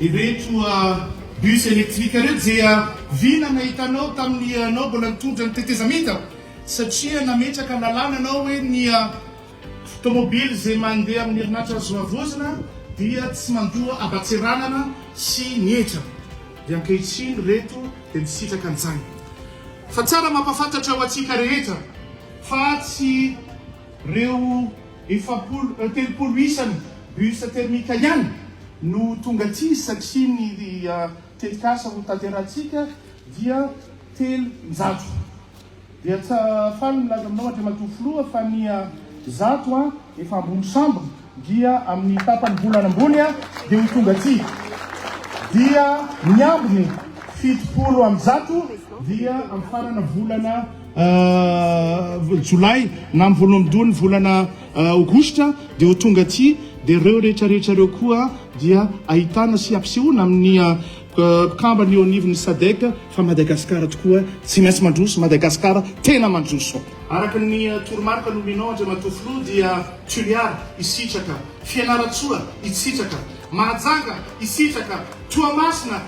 Ireto bus électrique ireto dia vina nahitanao tamin'ny ianao mbola nitondra ny tetezamita satria nametraka lalàna anao hoe ny tomobily izay mandeha amin'ny herinaratra azo havaozina dia tsy mandoa habatsiranana sy ny hetra dia ankehitriny ireto dia misitraka an'izany fa tsara mampafantatra ho antsika rehetra fa tsy ireo Efapolo, telopolo isany bus thermique ihany no tonga aty satria ny tetikasa ho tanterahintsika dia telonjato. Dia tsy faly milaza aminao Andriamatoa Filoha fa ny zato efa ambony sambo dia amin'ny tapany volana ambony dia ho tonga aty. Dia ny ambiny fitopolo amby zato dia amin'ny farana volana Jolay na amin'ny voalohan'ny doha ny volana Aogositra dia ho tonga aty dia ireo rehetra rehetra ireo koa dia ahitana sy ampisehoana amin'ny mpikambana eo anivon'ny Sadec fa Madagasikara tokoa tsy maintsy mandroso, Madagasikara tena mandroso. Araka ny toromarika nomenao Andriamatoa Filoha dia Toliara hisitraka, Fianarantsoa hisitraka, Mahajanga hisitraka, Toamasina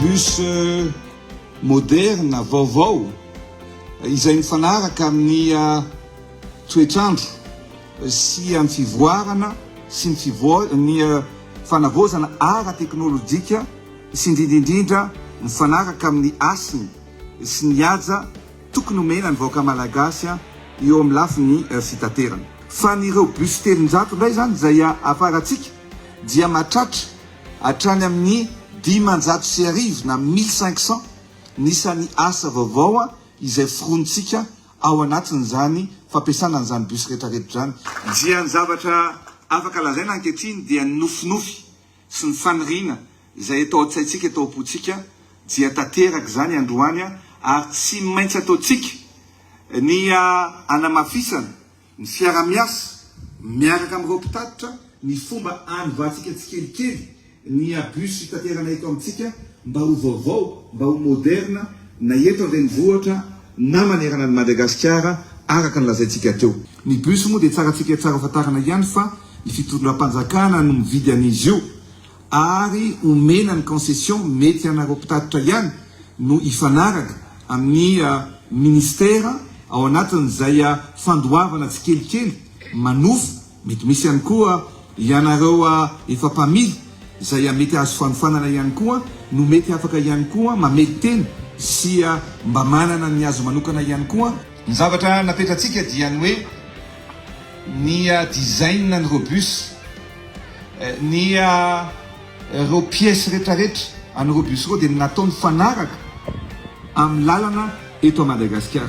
Bus moderna, vaovao, izay mifanaraka amin'ny toetr'andro sy amin'ny fivoarana sy ny fivoa ny fanavaozana ara-teknolojika sy indrindra indrindra mifanaraka amin'ny hasiny sy ny haja Tokony omena ny vahoaka malagasy eo amin'ny lafiny fitaterana. Fa ny ireo bus telonjato indray izany izay hafarantsika dia mahatratra hatrany amin'ny dimanjato sy arivo na mille cinq cent ny isan'ny asa vaovao izay foronintsika ao anatin'izany fampiasana an'izany bus retraretra izany. Dia ny zavatra afaka lazaina ankehitriny dia ny nofinofy sy ny faniriana izay eto an-tsaintsika, eto am-pontsika dia tanteraka izany androany ary tsy maintsy ataontsika ny hanamafisana ny fiara-miasa miaraka amin'ireo mpitatitra ny fomba hanovatsika tsikelikely ny bus hitaterana eto amintsika mba ho vaovao, mba ho moderna na eto an-drenivohitra na manerana an'i Madagasikara araka ny lazaintsika teo. Ny bus moa dia tsarantsika tsara fantarina ihany fa ny fitondram-panjakana no mividy an'izy io ary omena ny concession mety anareo mpitatitra ihany no hifanaraka amin'ny ministera ao anatin'izay fandoavana tsikelikely manofa mety misy ihany koa ianareo efa mpamily izay mety azo fanofanana ihany koa no mety afaka ihany koa mamely tena sy mba manana ny azy manokana ihany koa Ny zavatra napetratsika dia ny hoe ny design an'ireo bus, ny ireo pièces retraretra an'ireo bus ireo dia natao mifanaraka amin'ny lalana eto Madagasikara.